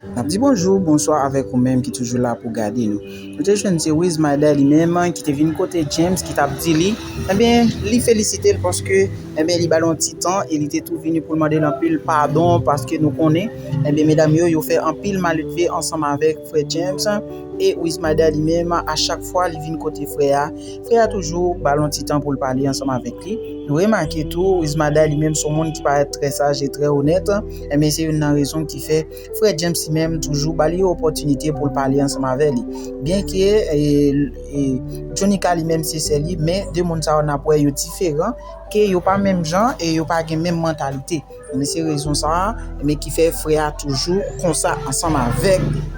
Nap di bonjou, bonswa avèk ou menm ki toujou la pou gade nou. Nou te jwenn se Wiz Mayday li menm ki te vin kote James ki tap di li, enben li felisite l paske enben li ba l yon ti tan e li te tou vini pou l mande l anpil padon paske nou konnen enben medam yo yo fè anpil maledve ansanm avèk frè James e Wiz Mayday li menm a chak fwa li vin kote frè a, frè a toujou ba l yon ti tan pou l pale ansanm avèk li. Nou remake tou Wiz Mayday li menm se yon moun ki parèt trè saj e trè onèt. Enben se youn nan rezon ki fè frè James li menm toujou ba li yon opòtinite pou l pale ansanm avè li. Byenke Jonica li menm se sè li, men 2 moun sa yo n ap wè yo diferan, ke yo pa menm jan e yo pa gen menm mantalite. Enben se rezon sa a ki fè frè a toujou konsa ansanm avèk.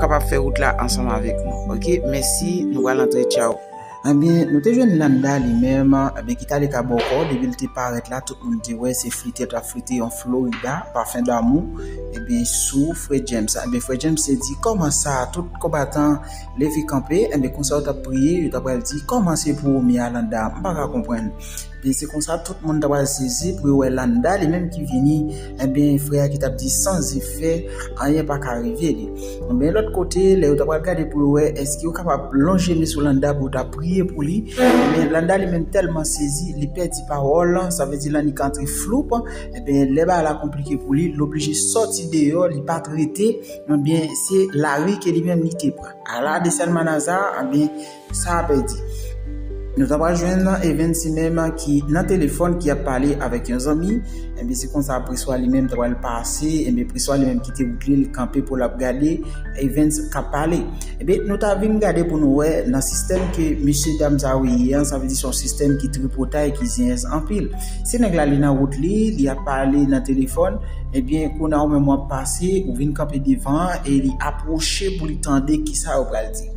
kapab fè wout la ansanm avèk nou ok mèsi nou pral antre tchaww. Ebyen nou te jwenn Landa li menm ebyen ki tale ka bòkò depi li te parèt la tout moun te wè se flitèt lap flite yon Florida parfum d'amour ebyen sou frè James la ebyen frè James te di kòman sa tout konbatan leve kanpe ebyen konsa yo tap priye yo ta pral di kòman se pou ou Mirlanda m paka konprann Ebyen se konsa tout moun ta pral sezi pou yo wè Landa li menm ki vini ebyen frè a ki tap di san zefè anyen pa ka rive li. Ebyen lòt kote lè yo ta pral gade pou yo wè èske yo kapab lonje men sou Landa pou yo ta priye pou li ebyen Landa li menm tèlman sezi li pèdi pawòl sa vle di Lanik antre floup ebyen lè bagay la konplike pou li l oblije sòti deyò li pat rete ebyen se lari ke li menm li te pran. A la de Salmanaza ebyen. Sa a pèdi. Nou ta pral jwenn Evens si menm ki nan telefòn ki ap pale avèk yon zanmi, enben se konsa Preswa li menm ta pral pase, enben Preswa li menm kite wout li l kanpe pou l ap gade Evens k ap pale. Enben nou ta vin gade pou nou wè nan sistèm ke mesye dam sa yo ye an, sa vle di se yon sistèm ki tripotay, ki zenyèz anpil. Si nèg la li nan wout li, li ap pale nan telefòn, enben kounye a ou menm w ap pase, ou vin kanpe devan e li apwoche pou li tande kisa yo pral di.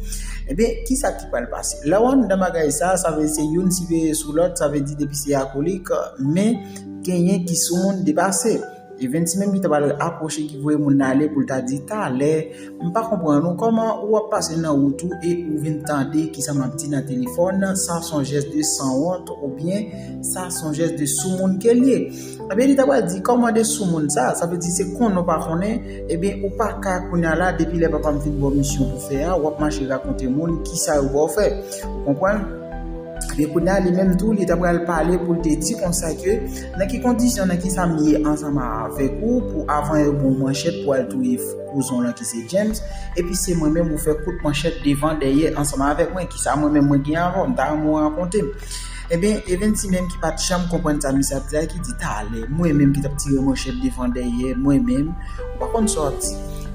Ebyen, kisa ki pral pase? Lè w anndan bagay sa, sa vle di se youn siveye sou lòt, sa vle di depi se akolik, men genyen ki sou moun depase. E Vensi menm ki ta pral apwoche ki voye moun nan ale pou l ta di talè, m pa konprann ou, kòman ou ap pase nan wout ou e ou vin tande kisa m ap di nan telefòn, sa s on jès de sanwont oubyen sa s on jès de soumoun ke l ye. Ebyen li ta pral di kòman de soumoun sa, sa vle di se konnen ou pa konnen, ebyen ou pa ka kounya la depi lè papa m fin ba w misyon pou fè a wap mache rakonte moun kisa yo ba w fè ou konprann, ebyen kounya li menm tou li ta pral pale pou l te di konsa ke nan ki kondisyon nan kisa m ye ansanm avèk ou pou avan yo ba w manchèt pou al touye kouzon w lan ki se James epi se mwen menm ou fè kout manchèt devan dèyè ansanm avèk mwen kisa mwen menm mwen gen avè w m ta renmen ou rakonte m. Ebyen e Vency menm ki pat janm konprann sa misye ap di a ki di talè mwen menm ki tap tire manchèt devan dèyè mwen menm ou pa konn sa wap di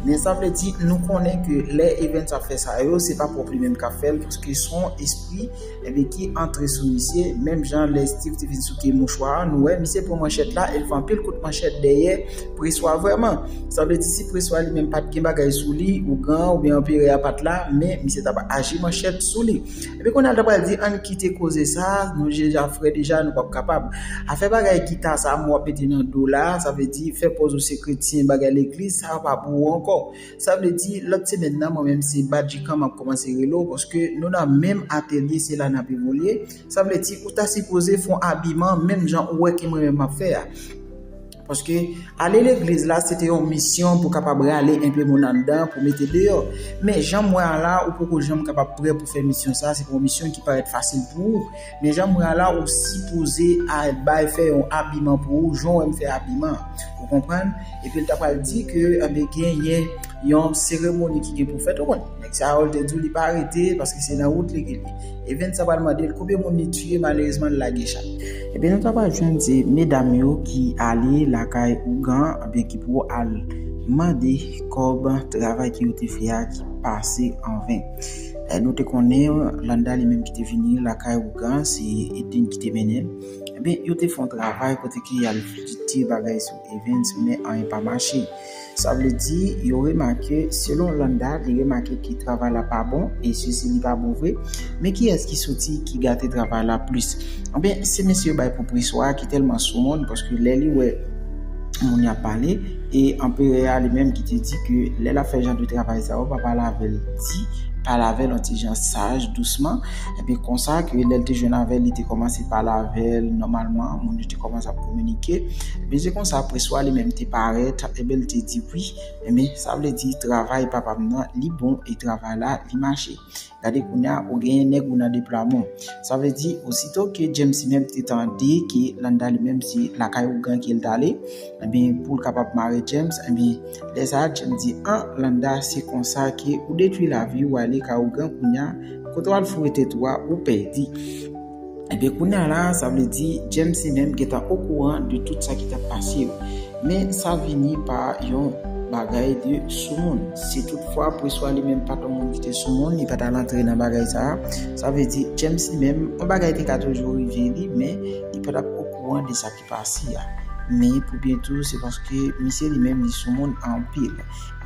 men sa vle di nou konnen ke lè e Vency ap fè sa yo se pa pwòp li menm kap fèl paske son espri ebyen ki antre sou misye menm jan lè Steeve te vin souke mouchwa a nou wè misye pran manchèt la el fè anpil kout manchèt dèyè Preswa vrèman sa vle di si Preswa li menm pat gen bagay sou li ougan oubyen anperè a pat la men misye tap aji manchèt sou li. Epi kounye a l ta pral di ann kite koze sa, nou deja fre deja, nou p ap kapab. Afè bagay gita sa a mwen wè w ap mete nan do w la a, sa vle di fè pòz ou se kretyen, bagay legliz, sa a pa pou ou ankò. Sa vle di lòt semèn nan mwen menm se Badjikan m ap kòmanse rele w paske nou nan menm atelye se la n ap evolye, sa vle di ou ta sipoze fè w abiman menm jan ou wè ke mwen menm m ap fè a. Paske ale legliz la se te yon misyon pou kapab rale enpe moun anndan pou mete deyò. Men jan m wè a la, ou poko janm kapab prè pou fè misyon sa, se pa yon misyon ki parèt fasil pou ou. Men jan m wè a la, ou sipoze al bay fè yon abiman pou ou jan w wè m fè abiman an. Ou konprann? Epi l ta pral di ke anben genyen yon seremoni ki gen pou fèt. Ou konn, nèg sa yo l te di w li pa rete paske se nan wout li ke l ye. Evens sa pral mandel konbyen moun li tiye malerezman li lage chat. Ebyen nou ta pral jwenn se medam yo ki ale lakay ougan ebyen ki pou al mande kòb travay ki yo te fè a ki pase an ven nou te konnen landa li menm ki te vini lakay ougan se Edlin ki te mennenl ebyen yo te fon travay kote ke yal di bagay sou evens men anyen pa mache. Sa vle di, yo remake, selon Landa, li remake ke travay la pa bon, e se si li pa bon vre, men kiyès ki soti, ki gate travay la plis? Anben, se mesye yo bay pou Preswa a ki tèlman sou moun, paske lè li wè moun yo ap pale, e Anperè a li menm ki te di ke lè l ap fè jan de travay sa yo, pa pale avè l di, pale avè l yon ti jan saj, dousman, enben konsa ke lè l te jwenn avè l, li te kòmanse pale avè l nòmalman, moun yo te. Kòmanse ap kominike. Ebyen se konsa apre swa li menm te parèt, ebyen li te di wi, ebyen sa vle di travay papa m nan li bon e travay la li mache. Gade kounya ou genyen nèg ou nan deplwaman. Sa vle di osito ke James li menm te tande ke Landa li menm se lakay ougan ke l t ale, ebyen pou l kapab mare James, ebyen lè sa a James di an Landa se konsa ke ou detwi lavi ou ale kay ougan kounya kote w al foure tèt ou a ou pèdi. Ebyen kounya la sa vle di James li menm gentan okouran de tout sa ki tap pase yo. Men sa vini pa yon bagay de soumoun. Si tout fwa Preswa li menm pat yon moun ki te soumoun li patal antre nan bagay sa, sa vle di James li menm yon bagay te ka toujou rive li men li patap okouran de sa. pasi a. Men pou Byentou se paske misye li menm li sou moun anpil.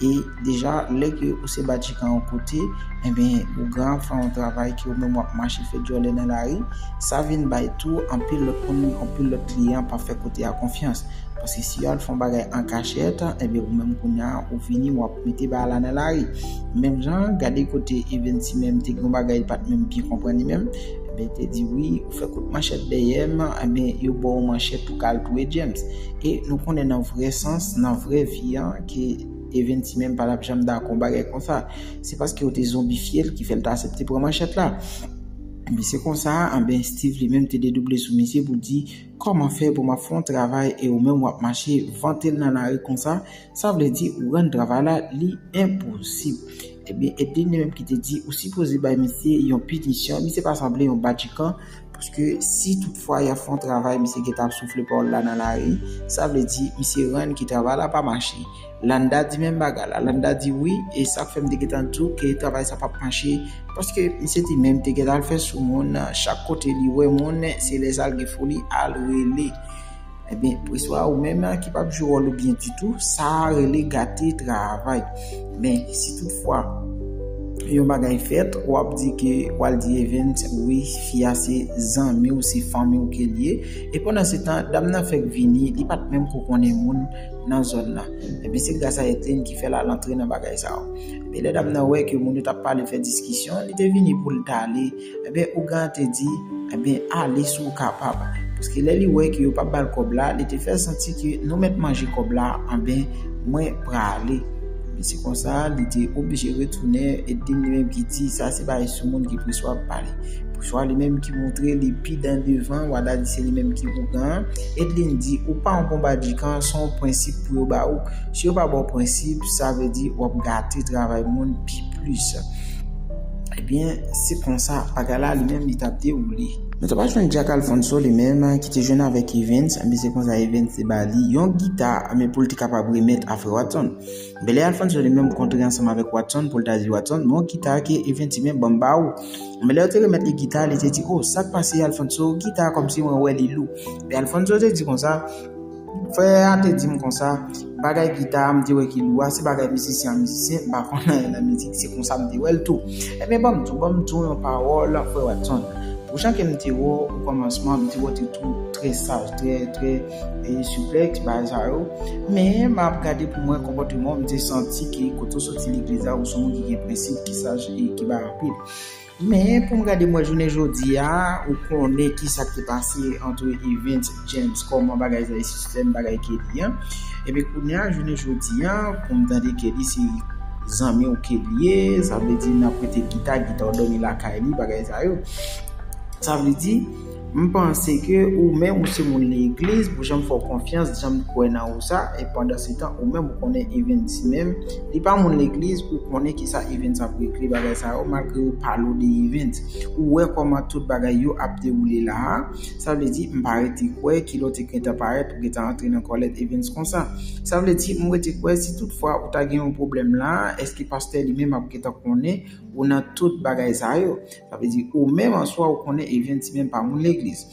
E deja lè ke ou se badjikan yon kote, enben ou gen ap fè yon travay ke ou menm wap mache fè dyòlè nan lari, sa vin bay tou anpil lòt moun, anpil lòt kliyan pa fè kote a konfyans. Paske si yo al fè yon bagay an kachèt, enben ou menm kounya ou vini wap mete bagay la nan lari. Menm jan, gade kote Evensy menm te gen yon bagay li pat menm byen konprann li menm, enben te di wi, Fè kout manchèt dèyèm ebyen yo baw manchèt pou kal touye James e nou konnen nan vrè sans nan vrè vi an ke Evens li menm patap janm dakò yon bagay konsa se paske yo te zonbifyel ki fèl ta asepte pran manchèt la ebyen se konsa anben Steeve li menm te dedouble sou misye pou di kòman fè pou map fè yon travay e ou menm wap mache vantel nan lari konsa sa vle di ou rann travay la li enposib. Ebyen e te li menm ki te di ou sipoze bay misye yon pinisyon, misye pa sanble yon badjikan, paske si tout fwa yap fè yon travay misye gentan ap soufle pawòl la nan lari, sa vle di misye rann ke travay la pa mache. Landa di menm bagay la, Landa di wi e sak fè m te gentan di w ke travay sa pap mache, paske misye te menm te gentan al fè sou moun, chak kote li wè moun se lè sa l gen foli al rele. Ebyen, preswa ou menm la ki pap jwe wòl ou byen ditou, sa a rele gate travay. Men, si tout fwa, yon bagay fèt, wap di ke, wal di Evens, wi, fi a se zanmi ou, se fanmi ou ke li ye, e pandan se tan, dam nan fèk vini, li pat menm ko konnen moun nan zòn nan. Ebyen, se gras a Ethelene ki fè lal antre nan bagay sa yo. Ebyen, lè dam nan wè ke moun yo tap pale, fè diskisyon, li te vini poul tale. Ebyen ougan te di ebyen ale si w kapab paske lè li wè ke yo pap ba l kòb la li te fè santi ke nou mèt manje kòb la anben mwen prale ebyen se konsa li te oblije retounen e dim li menm ki di sa se bagay sou moun ki preswa ap pale preswa li menm ki montre li pi dan devan wada di se li menm ki ougan an Edlin di ou pa yon bon badikan se yon prensip pou yo ba ou si yo pa ba w prensip sa vle di wap gate travay moun pi plis. Ebyen, se konsa bagay la li menm li t ap dewoule. Nou te pa jwenn Jack Alfonso li menm ki te jwenn avèk Evens, ebyen se konsa Evens te ba li yon gita ebyen pou l te kapab remèt a frè Watson. Ebyen lè Alfonso li menm kontre ansanm avèk Watson pou l ta di Watson, bon gita a ke Evens di men ban m ba ou. Ebyen lè yo te remèt li gita a li te di o sa k pase Alfonso gita a kòmsi mwen wè li lou. Ebyen Alfonso te di konsa, Frè a te di m konsa, bagay gita a m te wè ki lou a, se bagay mizisyen an mizisyen, m pa konn anyen nan mizik, se konsa m te wè l tou. Ebyen ban m tou, ban m tou yon pawòl, frè Watson. Pou jan ke m te wè w o kòmansman, m te wè w te tou trè saj, trè, trè souple, ti bagay sa yo. Men, m ap gade pou m wè konpòteman w, m te santi ke kote w soti legliz la, ou se yon moun ki gen prensip, ki saj e ki bay anpil. Men pou m gade mwen jounen jodi a, ou konnen ki sa ki pase antre Evens, James, kòman bagay sa ye sistèm bagay Kelly an. Enben kounye a jounen jodi a, pou m tande Kelly se zanmi w ke l ye, sa vle di nan prete gita, gita w dòmi lakay li, bagay sa yo. Sa vle di. M panse ke ou menm ou se moun legliz pou janm fè w konfyans janm t kwè nan ou sa e pandan se tan ou menm ou konnen Evens si menm li pa moun legliz ou konnen kisa Evens ap regle bagay sa yo malgre yo pale w de Evens ou wè kòman tout bagay yo ap dewoule la a sa vle di m pa rete kwè kilè w te gentan parèt ou gentan antre nan kòlèt Evens konsa sa vle di m rete kwè si tout fwa ou ta gen yon pwoblèm la a eske pastè li menm ap gentan konnen ou nan tout bagay sa yo. Sa vle di ou menm an swa ou konnen Evjen Timen pa moun legliz.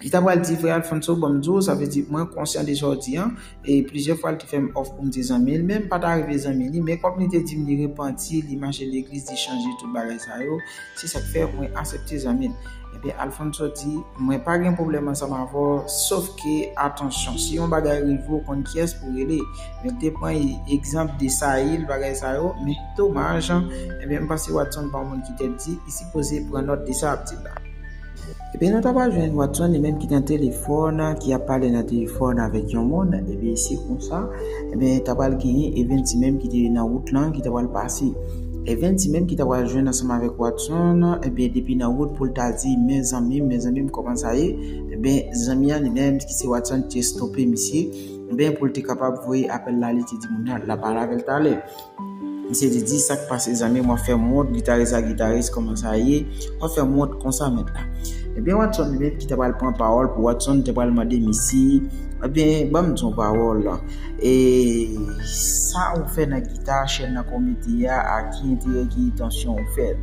Li ta pral di frè Alfonso ban m di w sa vle di mwen konsyan de sa w di an e plizyè fwa li te fè m òf pou m te zanmi l men m pa ta rive zanmi li men kòm li te di m li repanti li mache legliz li chanje tout bagay sa yo se sa k fè mwen asepte zanmi l ebyen Alfonso di mwen pa gen pwoblèm ansanm avè w sof ke atansyon si yon bagay rive w konn kiyès pou w rele Mwen te pran egzanp de Sayil, bagay sa yo, men domaj, enben m panse Watson pa yon moun ki tèt di, li sipoze pran nòt de sa y ap di l la. Ebyen nou ta pral jwenn Watson li menm ki nan telefòn, ki ap pale nan telefòn avèk yon moun, ebyen se konsa, enben ta pral genyen Evens li menm ki te nan wout lan, ki ta pral pase. Evens li menm ki ta pral jwenn ansanm avèk Watson, enben depi nan wout pou l ta di men zanmi m, men zanmi m kòman sa ye, enben zanmi an li menm ki se Watson te stope misye, Ben poul te kapab voye apel la lite di moun nan lap al avel tale. Misye te di sak pase zanmim wap fem wont gitaris a gitaris koman sa ye wap fem wont konsa met la. Ebyen Watson Met ki ta pral pran pawol pou Watson te pral mande misye ebyen banm di yon pawol e sa ou fe nan gita chen nan kou mete a a ki enterè ki entansyon ou fel.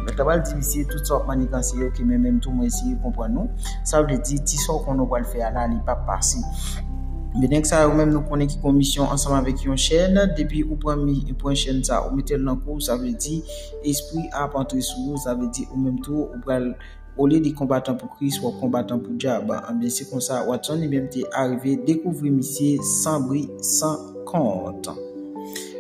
Met la pral di misye tout sa wap maniganse yo ki menmenm tou mwen eseye konprann ou. Sa vle di, ti sa w konnen w pral fè a la, li pap pase. Men nèg sa yo menm nou konnen ki konmisyon ansanm avèk yon chèn, depi ou pran ou pran chèn sa, ou mete l nan kou w, sa vle di espri a ap antre sou ou, sa vle di ou menm tou ou pral olye de konbatan pou Kris, w ap konbatan pou dyab. Anben se konsa Watson li menm te arive dekouvri misye san bri san kont.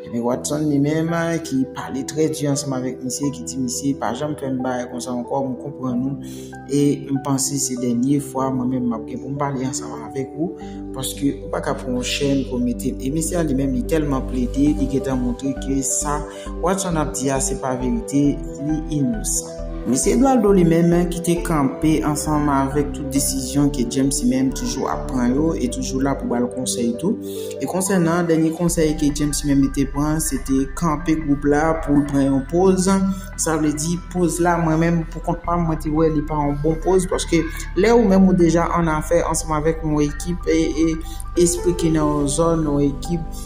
Ebyen Watson li menm ki pale trè di ansanm avèk misye ki di misye pa janm fè m bagay konsa ankò, m konprann ou. E m panse se dènye fwa mwen menm m ap gen pou m pale ansanm avèk ou, paske ou pa ka pran yon chèn pou w mete l. E mesye a li menm li tèlman plede, li gen tan montre ke sa Watson ap di a se pa verite, li inosan. Mesye Edoualdo li menm ki te kanpe ansanm avèk tout desizyon ke James li menm toujou ap pran yo e toujou la pou ba l konsèy tou. E konsènan dènye konsèy ke James li menm li te pran, se te kanpe gwoup la pou l pran yon poz, Sa vle di poz la mwen menm pou kont pa m mwen te wè li pa yon bon poz paske lè ou menm ou deja an afè ansanm avèk yon ekip e espri ki nan yon zòn yon ekip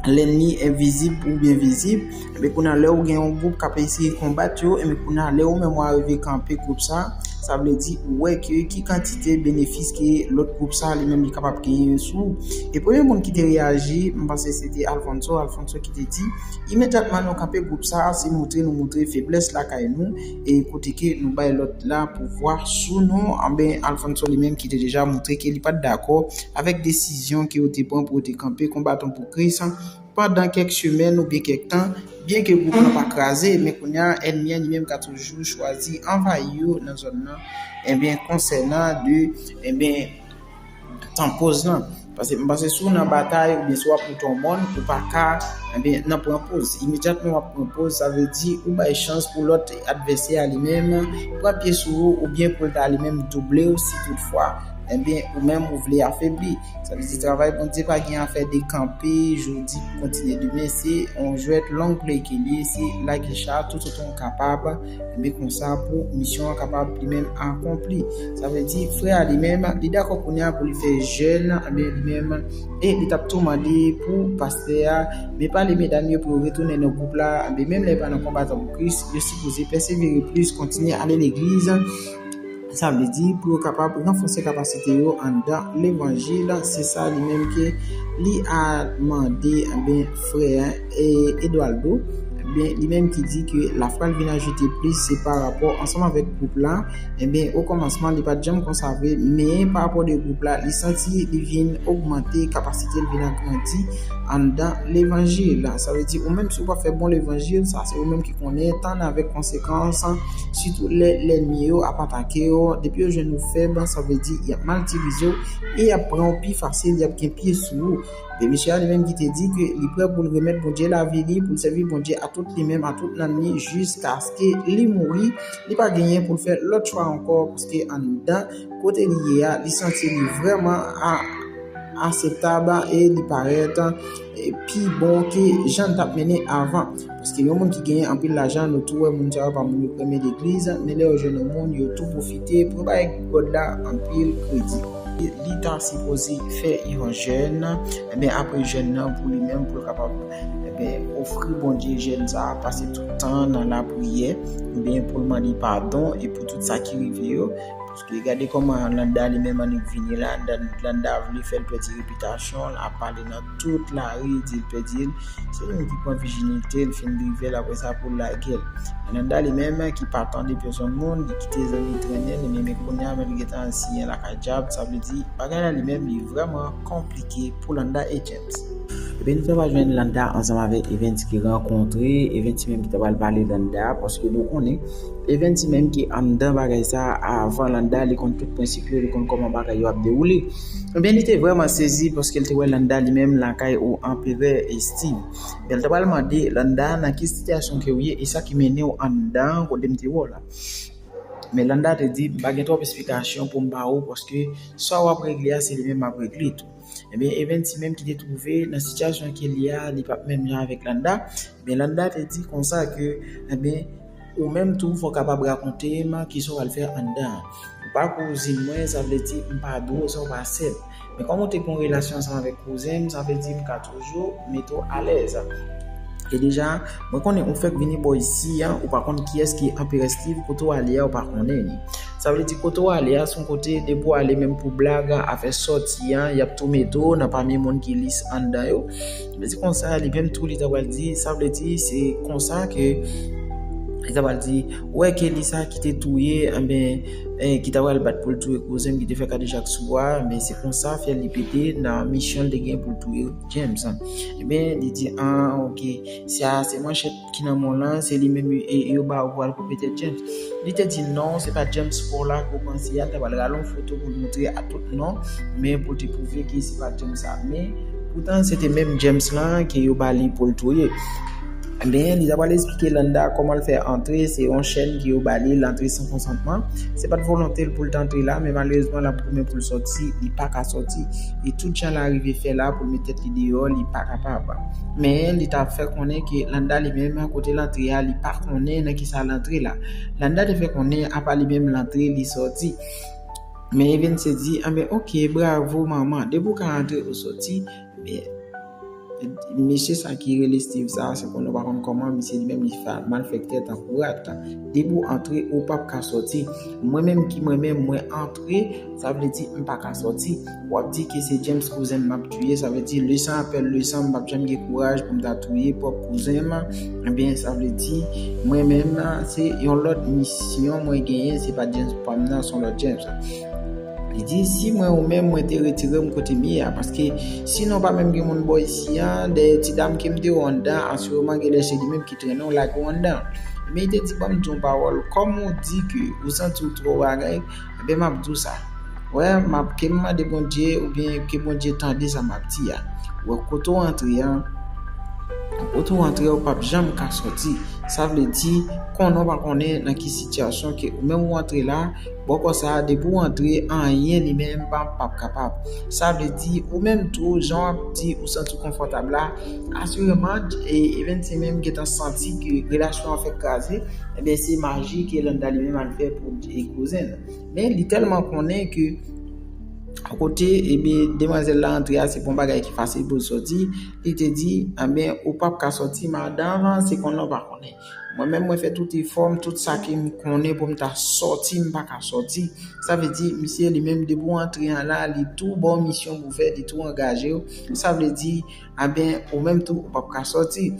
lènmi envizib oubyen vizib men kou nan lè ou gen yon gwoup k ap eseye konbat yo men kou nan lè ou menm ou arive kanpe gwoup sa sa vle di ou wè ke ki kantite benefis ke lòt gwoup sa li menm li kapab genyen sou e premye moun ki te reyaji m panse se te Alfonso Alfonso ki te di Imedyatman nou kanpe gwoup sa a se moutre nou moutre feblès lakay nou e kote ke nou bay lòt la pouvwa sou nou anben Alfonso li menm ki te deja moutre ke li pat dakò avèk desizyon ke yo te pran pou yo te kanpe kon baton pou Kris pandan kèk semèn oubyen kèk tan byen ke gwoup lan pa kraze men kounya ènmi an li menm ka toujou chwazi anvayi yo nan zòn lan enben konsènan de enben Tan poz lan. Pase m pase sou nan batay ou byen sou ap moute yon mòn ou pa ka ebyen nan pran poz. Imedyatman wap pran poz sa vle di ou bay chans pou lòt advèsè a li menm pran pye sou ou ou byen pou l ta li menm double ou si tout fwa ebyen ou menm ou vle afebli. Sa vle di travay Bondye pa gen afè de kanpe jodi pou kontinye demen se yon jwèt long play ke l ye se lage cha toutotan w kapab. Enben konsa pou misyon an kapab li menm akonpli. Sa vle di frè a li menm li dakò kounye a pou li fè jèn, enben li menm e li tap tou mande pou pastè a men pale medam yo pou yo retounen nan gwoup la, enben menm lè pa nan konbatan pou Kris, yo sipoze pèsevere plis, kontinye ale legliz. Sa vle di, pou yo kapab ranfòse kapasite yo anndan levanjil, se sa li menm ke li al mande anben frè Edoualdo, anben li menm ki di ke la fwal vin ajoute plis se pa rapò ansanm avèk gwoup la, anben o kòmansman li pat janm konsa vre, men pa rapò de gwoup la li santi li vin ogmante kapasite l vin agrandi anndan levanjil, sa vle di ou menm si ou pa fè bon levanjil sa se ou menm ki. Konnen etan avèk konsekans, sitou lè lènmi yo ap atake w, depi yo jwenn ou fèb, sa vle di y ap mal itilize w e y ap pran w pi fasil, y ap gen pye sou ou. Vye mesye a li menm ki te di ke li prè pou l remèt Bondye lavi li, pou l sèvi Bondye a tout li menm, a tout nanm li jiskaske li mouri, li pa genyen pou l fè lòt chwa ankò paske anndan kote li ye a li santi li vrèman aseptab e li parèt. pi bon ke jan tap mennen avan paske yon moun ki genyen anpil lajan nou tou wè moun sa yo pa moun yo premye legliz men lè yo jwenn yon moun yo tou pwofite pou yo bay god la anpil kredi li ta sipoze fè yon jèn enben apre jèn nan pou li menm pou l kapab enben ofri Bondye jèn sa pase tout tan nan lapriyè enben pou l mande padon e pou tout sa ki rive yo. Wi gade koman landa li menm annik vini la landa vle fèl pèdi repitasyon l ap pale nan tout lari dil pèdil se li menm ki pran vijinite l fin drivel aprè sa poul lagel men landa li menm ki pa tande pèsòn moun li kite zanmi trennen li menm e kounya menm li gentan al siyen lakay djab sa vle di bagay la li menm li vrèman konplike pou landa e. Epi nou ta pral jwenn Landa ansanm avèk Evens ki rankontre, Evens menm ki ta pral pale Landa paske nou konnen Evens menm ki anndan bagay sa avan Landa li konn tout prensip yo, li konn kòman bagay yo ap dewoule. Ebyen li te vrèman sezi paske li te wè Landa li menm lakay ou Anperè Estiv. Ebyen li ta pral mande Landa nan ki sitiyasyon ke ou ye e sa ki mennen ou anndan kote m te wè w la. Men Landa te di m pa gen twòp esplikasyon pou m ba ou paske sa w ap regle a se li menm m ap regle tou. Ebyen Evens li menm ki te twouve nan sitiyasyon ke li a li pap menm jan avèk Landa, ebyen Landa te di konsa ke ebyen ou menm tou fò kapab rakonte m kisa w al fè anndan an. Ou pa kouzin mwen sa vle di m pa dwe w sa w pa sè m. Men kòm ou te gen yon relasyon ansanm avèk kouzen m sa vle di m ka toujou yo mete w alèz. E deja, mwen konnen ou fèk vini bò isi a, ou pa konn kiyès ki Anperè Steve, kote ou ale a ou pa konnen li. Sa vle di kote ou ale a son kote depi ou ale menm pou blag, afè sòti a, y ap tou mete w nan pami moun ki lis anndan yo. Mwen di konsa, li menm tou li ta pral di, sa vle di se konsa ke li ta pral di, ou wè ke li sa ki te touye, anben, ki ta pral bat pou l touye kouzen m ki te fè kadejak sou bwa a, men se konsa fyèl li pete nan misyon l te gen pou l touye James an. Ebyen, li di, an, ok, sa a se manchèt ki nan men w lan, se li menm yo ba ou pou w al koupe tèt James. Li te di, non, se pa James pa w la ke w panse a, li ta pral rale yon foto pou l montre a tout non, men pou l te pwouve ke se pa James sa a. Men, poutan se te menm James lan ke yo ba li pou l touye. Anben li ta pral esplike Landa kòman l fè antre, se yon chèn ke yo ba li, l antre san konsantman. Se pat volonte l pou l t antre la, men malerezman l ap goumen pou l sòti, li pa ka sòti. E tout jan l arive fè la pou l met tèt li deyò, li pa kapab. Men li ta fè konnen ke Landa li menm kote l antre a, li pa konnen nan kisa l antre la. Landa te fè konnen apa li menm l antre, li sòti. Men Evens te di, anben ok, bravo manman, depi w ka antre ou sòti, Mesye sa ki rele Steve sa se konn ou pa konn koman misye li menm li fè malfèktè tankou rat. Depi ou antre ou pap ka sòti. Mwen menm ki mwen menm mwen antre sa vle di m pa ka sòti. Wap di ke se James kouzen m map touye sa vle di le san apèl le san m pap janm gen kouraj pou m ta touye pwòp kouzen m. Ebyen sa vle di mwen menm se yon lòt misyon mwen genyen se pa James pam nan se yon lòt James. Li di, Si mwen ou menm, mwen te retire m kote m ye a. Paske, sinon pa menm gen moun bò isi a, dèyè ti dam ke m te ou anndan, asireman gen lè se li menm ki trennen ou lage ou anndan. Ebyen li te di, Ban m di ou yon pawòl, kòm ou di ke ou santi ou twò bagay, ebyen m ap di ou sa. Wè, m ap, ke m mande Bondye, oubyen ke Bondye tande sa m ap di a. Wè, kote ou antre a, kote ou antre a ou p ap janm ka sòti. Sa vle di, konnen ou pa konnen nan ki sitiyasyon ke ou menm ou antre la, Bòkò sa depi w antre anyen li menm pap kapab. Sa vle di ou menm tou jan wap di ou santi w konfòtab la asireman Evens se menm gentan santi ke relasyon an fèk kraze ebyen se maji ke Landa li menm al fè pou kouzen l. Men li tèlman konnen ke kote ebyen demwazèl la antre a se pa yon bagay ki fasil pou l sòti li te di ebyen ou pap ka sòti madan se konnen ou pa konnen. Mwen menm mwen fè tout efòm, tout sa ke m konnen pou m ta sòti m pa ka sòti. Sa vle di misye li menm depi w antre an la li tou ba w misyon pou w fè, li tou angaje w. Sa vle di anben ou menm tou ou p ap ka sòti.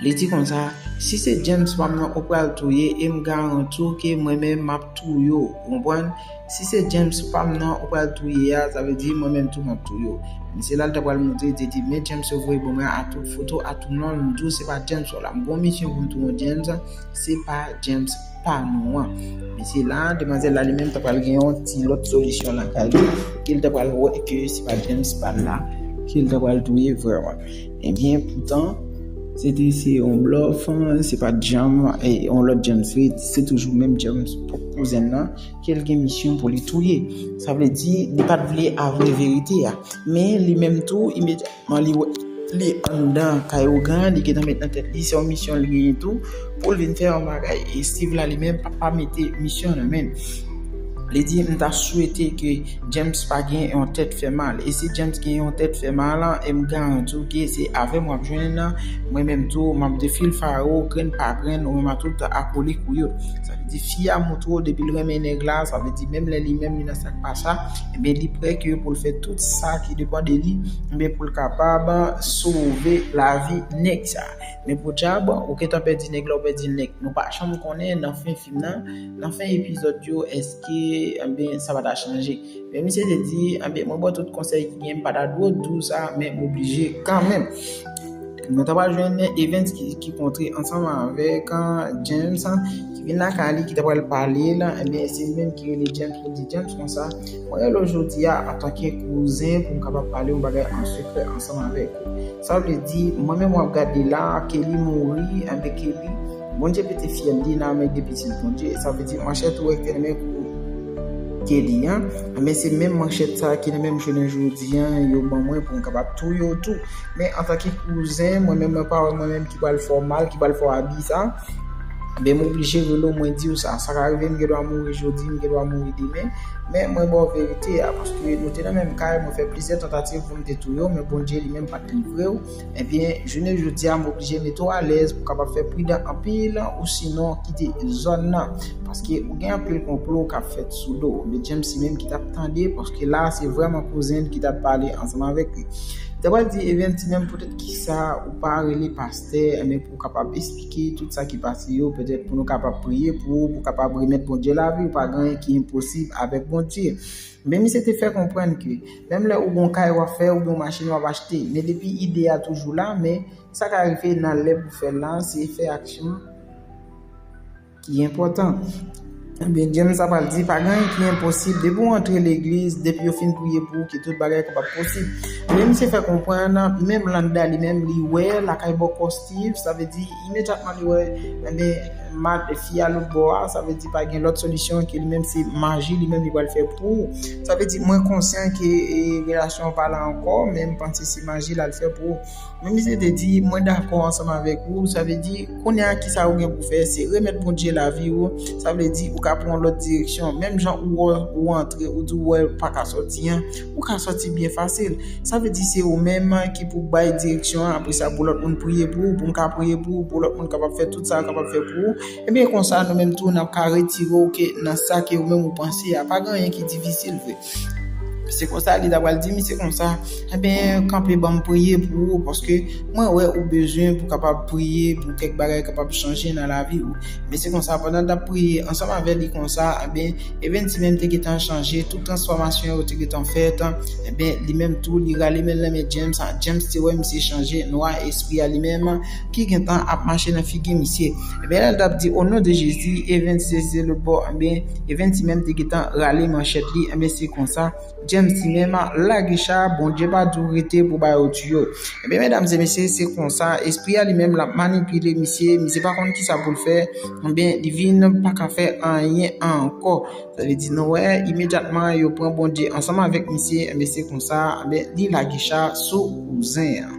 Li di konsa, si se James pa m nan ou pral touye e m garanti w ke mwen menm m ap touye w. Ou konprann? Si se James pam nan ou pral touye a sa vle di mwen menm tou map touye w Mesye la li ta pral montre li te di men James yo voye bon mwen a tout foto a tout non l m di w se pa James w la m gon misyon pou m touye w James se pa James pa nou an Mesye la demwazèl la li menm ta pral gen yon ti lòt solisyon lakay li ke li ta pral wè ke se pa James pa l la ke li ta pral touye vrèman ebyen poutan se te se yon blòf se pat janm yon lòt James vre se toujou menm James pwòp kouzen l lan. ke l gen misyon pou li touye. Sa vle di, li pa t vle avwe verite a. Men, li menm tou, imedyatman li wè li anndan kay ougan an, li gentan met nan tèt li, se yon misyon li genyen tou, pou l vin fè yon bagay. E Steve la li menm pa mete misyon nan men l. Li di, m ta swete ke James pa gen yon tèt fè mal. E si James gen yon tèt fè mal, e m garanti w ke se avè m w ap jwenn l, mwen menm tou, m ap defilfare w grenn pa grenn, ou menm a tout akolik ou yo. Di fi a moutro depi l renmen nèg la sa vle di menm lè li menm li nan sak pa sa ebyen li prè ke pou l fè tout sa ki depan de li ebyen pou l kapab sove lavi nèg sa. Men podyab ou gentan pèdi nèg la ou pèdi l nèt nou pa janm konnen nan fen fim nan nan fen epizòd yo èske ebyen sa pa ta chanje men misye te di ebyen mwen bò w tout konsèy ki gen m pa ta dwe w di w sa men m oblije kanmenm. Nou ta pral jwenn Evens ki kontre ansanm avèk James ki vin lakay li ki ta pral pale l, ebyen se li menm ki rele James pou l di James konsa, mwen rele w jodi a antanke kouzen pou m kapab pale yon bagay an sekrè ansanm avèk ou. Sa vle di, mwen menm w ap gade la, Kelly mouri, ebyen Kelly, Bondye pete fyèl li nan men de pitit Bondye, sa vle di manchèt ou wè ki te nan men Kelly an, ebyen se menm manchèt sa ki nan men m jounen jodi an yo ban mwen pou m kapab touye w tou. Men antanke kouzen, mwen menm mwen pa wè mwen menm ki pral fè w mal, ki pral fè w abi sa. Ben m oblije rele w mwen di w sa. Sa ka rive m gendwa mouri jodi, m gendwa mouri demen. Men mwen ba w verite a. Paske nou te nan menm kay, mwen fè plizyè tantativ pou m te touye w, men Bondye li menm pa t livre w. Ebyen, jounen jodi a m oblije mete w alèz pou w kapab fè pridan anpil osinon kite zòn nan. Paske ou gen anpil konplo k ap fèt sou do w. Medjemsi menm ki t ap tande paske la a se vrèman kouzen l ki t ap pale ansanm avèk. Mta pral di Evens ti mèm poutèt kisa ou pa rele pastè enben pou kapab esplike tout sa ki pase yo petèt pou nou kapab priye pou ou pou kapab remèt Bondye lavi ou pa gen anyen ki enposib avèk Bondye men misye te fè konprann ke menm lè ou gon kay wap fè ou gon machin wap achte men depi ide a toujou la men sa ka rive nan lè pou fèl la se fè aksyon Ki enpòtan. Ebyen James ap al di pa gen anyen ki enposib depi ou antre legliz depi yo fin priye pou ou ke tout bagay kapab posib men misye fè konprann menm Landa li menm li wè lakay bòkò Steve sa vle di imedyatman li wè ebyen mad fi a lòt bò a sa vle di pa gen lòt solisyon ke li menm se maji li menm li pral fè pou ou sa vle di mwen konsyan ke relasyon an pa la ankò men m panse se maji l al fè pou ou. Men misye te di, mwen dakò ansanm avèk ou, sa vle di, kounye a kisa ou gen pou fè, se remèt Bondye lavi ou, sa vle di ou ka pran yon lòt direksyon, menm jan ou wè ou antre, ou di ou wè ou pa ka sòti an, ou ka sòti byen fasil, sa vle di se ou menm ki pou bay direksyon an, apre sa pou lòt moun priye pou ou, pou m ka priye pou ou, pou lòt moun kapab fè tout sa yo kapab fè pou ou, ebyen konsa nou menm tou n ap ka retire ou ke nan sa ke ou menm ou panse a, pa gen anyen ki difisil vre. Se konsa li ta pral di misye konsa, enben kanpe banm priye pou ou paske mwen wè ou bezwen pou kapab priye pou kèk bagay kapab chanje nan lavi ou. Men se konsa pandan l t ap priye ansanm avè li konsa, enben Evens li menm te gentan chanje, tout transfòmasyon yo te gentan fèt, enben li menm tou li rale men l nan men James, James te wè misye chanje, nwa espri a li menm ki gentan ap mache nan figi misye. Enben lè l t ap di o non de Jezi, Evens se zye lotbò, enben Even ti menm te gentan rale manchèt li enben se konsa James ti menm lage cha Bondye pa diw rete pou ba yo tiyo enben medam e mesye se konsa espri a li menm lap manipile misye misye pa konn kisa poul fè enben li vin paka fè anyen ankò sa vle di nou wè imedyatman yo pran Bondye ansanm avèk misye enben se konsa enben li lage cha sou bouzen an.